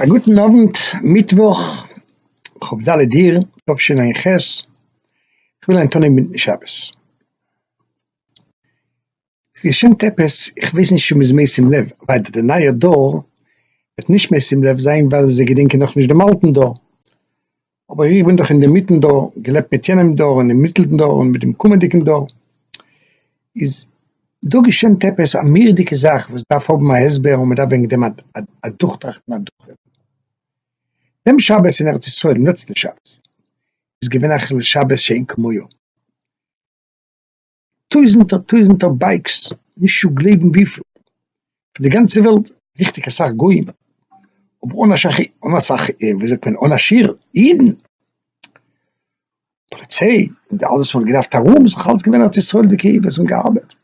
א גוטן אוונט, מיטוואך כ ד אייר תשע ח, כ'וויל היינט אנהייבן מיטן שבת. ס'געשענט עפעס, כ'ווייס נישט צו מ'איז משים לב, ווייל די נייע דור וועט נישט משים לב זיין ווייל זיי געדענקען נאכנישט דעם אלטן דור. אבער איך בין דאך אינדערמיטן דור, געלעבט מיט יענעם דור און דעם מיטלן דור און מיט דעם קומענדיגן דור, איז דא געשען עפעס א מורא'דיגע זאך וואס דארף האבן א הסבר און מ'דארף וועגן דעם אדורכטראכטן אדורכרעדן. דעם שבת אין ארץ ישראל, דעם לעצטן שבת, איז געווען א חילול שבת שאין כמוהו. טויזענטער טויזענטער בייקס, נישט צו גלייבן וויפיל, פון די גאנצע וועלט, ריכטיג אסאך גוים, אבער אן אסאך אן אסאך ווי זאגט מען אן א שיעור אידן, פאליציי און אלעס וואס מען האט געדארפט ארום, עס איז דאך אלעס געווען ארץ ישראל'דיגע אידן וואס האבן געארבעט,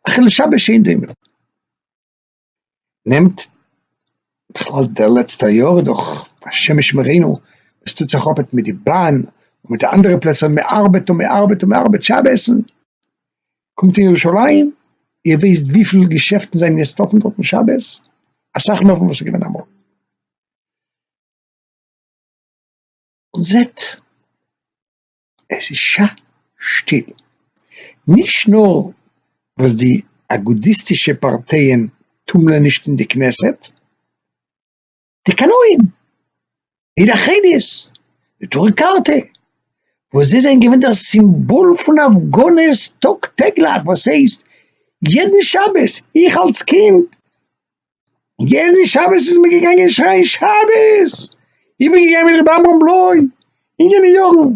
א חילול שבת שאין דומה. נעמט בכלל די לעצטע יאר איז דאך השם ישמרינו עס טוט זיך אפעט מיט די באן און מיט די אנדערע פלעצער מען ארבעט און מען ארבעט און מען ארבעט שבת קומט אין ירושלים איר וויסט וויפיל געשעפטן זענען יעצט אפען דארטן שבת? אסאך מער פון וואס ס'איז געווען אמאל. און זעט. עס איז ש שטיל, נישט נאר וואס די אגודיסטישע פארטייען טומלען נישט אין די כנסת, די קנאים אין אחדות, נטורי קרתא, וואס זיי זענען געווען דער סימבאל פון הפגנות טאג טעגליך, וואס הייסט יעדן שבת, איך אלס קינד יענע שבת איז מען געגאנגען שרייען שבת, איך בין געגאנגען מיט רבי עמרם בלוי, אינגעלע יארן,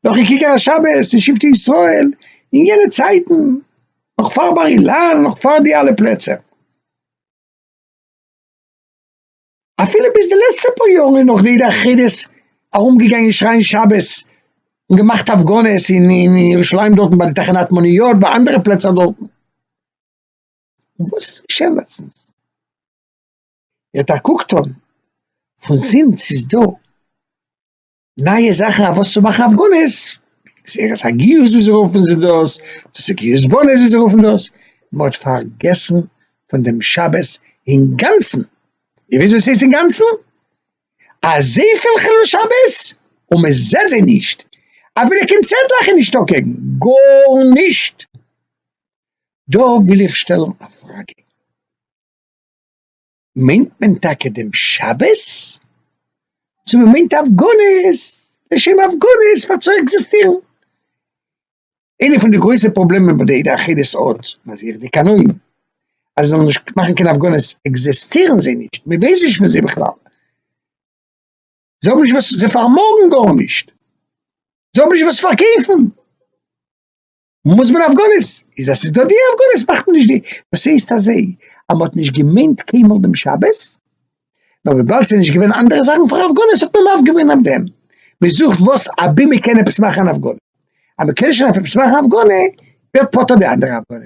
נאכן כיכר השבת אין שבטי ישראל, אינגעלע צייטן, נאך פאר בר אילן, נאך פאר די אלע פלעצער, אפילו ביז די לעצטע פאר יארן איז נאך די עדה החרדית ארום געגאנגען שרייען שבת, און געמאכט הפגנות אין ירושלים דארטן ביי די תחנת מוניות, ביי אנדערע פלעצער דארטן. וואס איז געשען לעצטנס? ער האט א קוק טון פון זינט ס'איז דא נייע זאכן אויף וואס צו מאכן הפגנות, גזירת הגיוס ווי זיי רופן זיך דאס, דאס איז גיוס בנות ווי זיי רופן דאס, מען האט פארגעסן פון דעם שבת אינגאנצן, און וויאזוי ס'הייסט אינגאנצן? אזויפיל חילול שבת און מען זעט זיי נישט, אפילו קיין צעטלעך איז נישטא קעגן, גארנישט. דא וויל איך שטעלן א פראגע, מיינט מען טאקע דעם שבת? צו מען מיינט הפגנות לשם הפגנות פאר צו עקזיסטירן? איינע פון די גרויסע פראבלעמען וואס די עדה החילית האט, מזהיר די קנאים אז זיי זאלן נישט מאכן קיין הפגנות, עקזיסטירן זיי נישט, מען ווייסט נישט פון זיי בכלל, זיי האבן נישט וואס, זיי פארמאגן גארנישט, זיי האבן נישט וואס פארקויפן. מוז מען הפגנות, איז אז ס'איז דא די הפגנות מאכט מען נישט די, דאס הייסט אז זיי אז מ'האט נישט געמיינט קיינמאל דעם שבת, נאר וויבאלד ס'איז נישט געווען אנדערע זאכן פאר הפגנות האט מען מוותר געווען אויף דעם, מ'זוכט וואס אבי מ'קען עפעס מאכן אן הפגנה, אז מ'קען שוין עפעס מאכן א הפגנה, ווערט פטור די אנדערע הפגנה.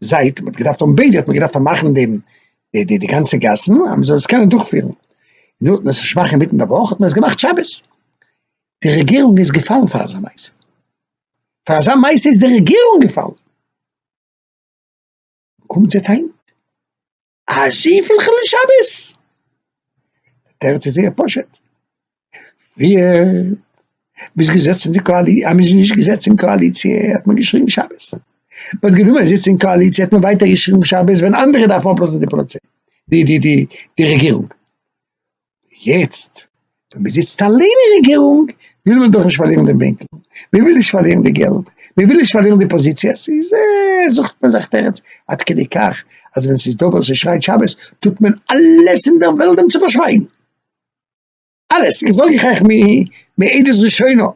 זייט מ'האט געדארפט האבן ביידע האט מען געדארפט פארמאכן דעם די די די גאנצע גאסן אז מ'זאל עס קענען דורכפירן, נו האט מען עס נישט געמאכט אינמיטן די וואך האט מען עס געמאכט שבת, די רעגירונג איז געפאלן פאר אזא מעשה, פאר אזא מעשה איז די רעגירונג געפאלן, קומט זעט היינט. אזויפיל חילול שבת? די תירוץ איז זייער פשוט, פריער מ'איז געזעצן אין די קאלי אז מ'איז נישט געזעצן אין קאליציע האט מען געשריגן שבת, מ'האט גענומען א זיץ אין קאליציע האט מען ווייטער געשריגן שבת ווען אנדערע דארפן אפלאזן די פאליציי די די די רעגירונג. יעצט ווען מען זיצט אליין אין רעגירונג וויל מען דאך נישט פארלירן דעם בענקל, מען וויל נישט פארלירן די געלט, מען וויל נישט פארלירן די פאזיציעס, איז זוכט מען זיך תירוץ עד כדי כך אז ווען ס'איז דא ווער ס'שרייט שבת טוט מען אלעס אין דער וועלט דעם צו פארשווייגן, אלעס, איך זאג איך אייך מעדות ראשונה,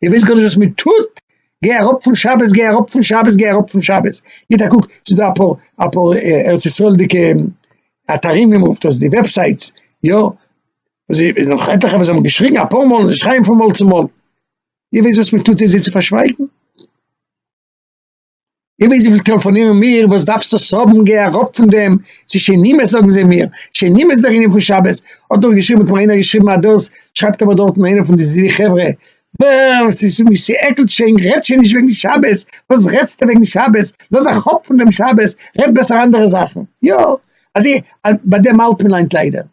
איר ווייסט גארנישט וואס מען טוט, גיי אראפ פון שבת, גיי אראפ פון שבת, גיי אראפ פון שבת, גיט א קוק ס'דא אפאר אפאר ארץ ישראל'דיגע אתרים ווי מען רופט עס די וועבסייטס יא זי איז נאך עטליכע וואס האבן געשריגן אפאר מאל און זיי שרייען פון מויל צו מויל איר ווייסט וואס מען טוט זיי זיי צו פארשווייגן? איר ווייסט וויפיל טעלעפאנירן מיר וואס דארפסטו עס האבן גיי אראפ פון דעם צו שונאים עס זאגן זיי מיר שונאים עס דער ענין פון שבת האט דאך געשריבן האט מיר איינער געשריבן אז דאס שרייבט אבער דארטן איינער פון די חברה ווער עס איז ווי ס'עקלט שוין רעדט שוין נישט וועגן שבת, וואס רעדסטע וועגן שבת, לאז א כאפ פון דעם שבת, רעד בעסער אנדערע זאכן, יא אזוי ביי דעם האלט מען היינט ליידער,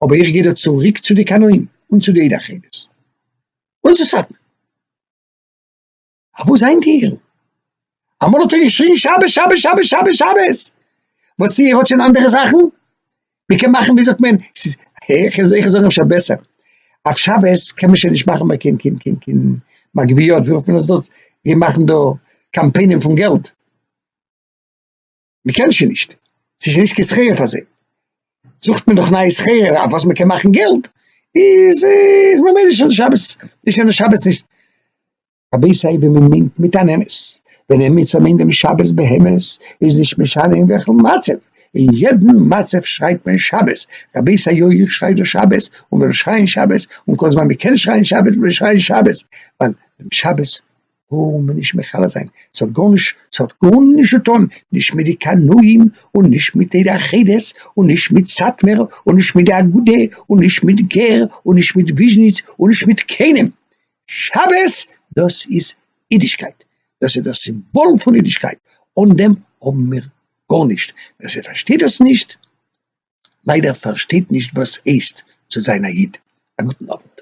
אבער איך גיי דא צוריק צו די קנאים און צו די עדה החרדית, וואס איז סאטמער? אַ וואָס זענט איר? אַ מאָל האָט ער געשריגן, שבת, שבת, שבת, שבת, שבת! וואָס איר האָט שוין אַנדערע זאַכן? מע קען מאַכן, ווי זאָגט מען, ס'איז, איך איך איך זאָג אפשר בעסער, אויף שבת קען מען שוין נישט מאַכן מער קיין קיין קיין קיין מגביות, ווי רופֿט מען עס דאָס, ווי מע מאַכן דאָ קאַמפּיינען פֿון געלט. מען קען שוין נישט, ס'איז שוין נישט קיין שכר פאר זיי, זוכט מען נאך נייע שכר אויף וואס מען קען מאכן געלט, איז איז ממילא שוין שבת, איז שוין שבת נישט. רבי זיי ווען מען מיינט מיט אן אמת, ווען עמיצער מיינט דעם שבת באמת, איז נישט משנה אין וועלכן מצב, אין יעדן מצב שרייט מען שבת, רבי זיי יוי איך שריי דא שבת, און וועל שרייען שבת, און כל זמן מען קען שרייען שבת וועל איך שרייען שבת, ווייל דעם שבת האבן מיר נישט מכלה זיין, ס'האט גארנישט, ס'האט גארנישט צו טון, נישט מיט די קנאים, און נישט מיט די אחדות, און נישט מיט סאטמער, און נישט מיט די אגודה, און נישט מיט גער, און נישט מיט וויזשניץ, און נישט מיט קיינעם. שבת דאס איז אידישקייט, דאס איז דער סימבאל פון אידישקייט, אן דעם האבן מיר גארנישט, ווער ס'פארשטייט דאס נישט, ליידער פארשטייט נישט וואס הייסט צו זיין א איד. א גוטן אוונט.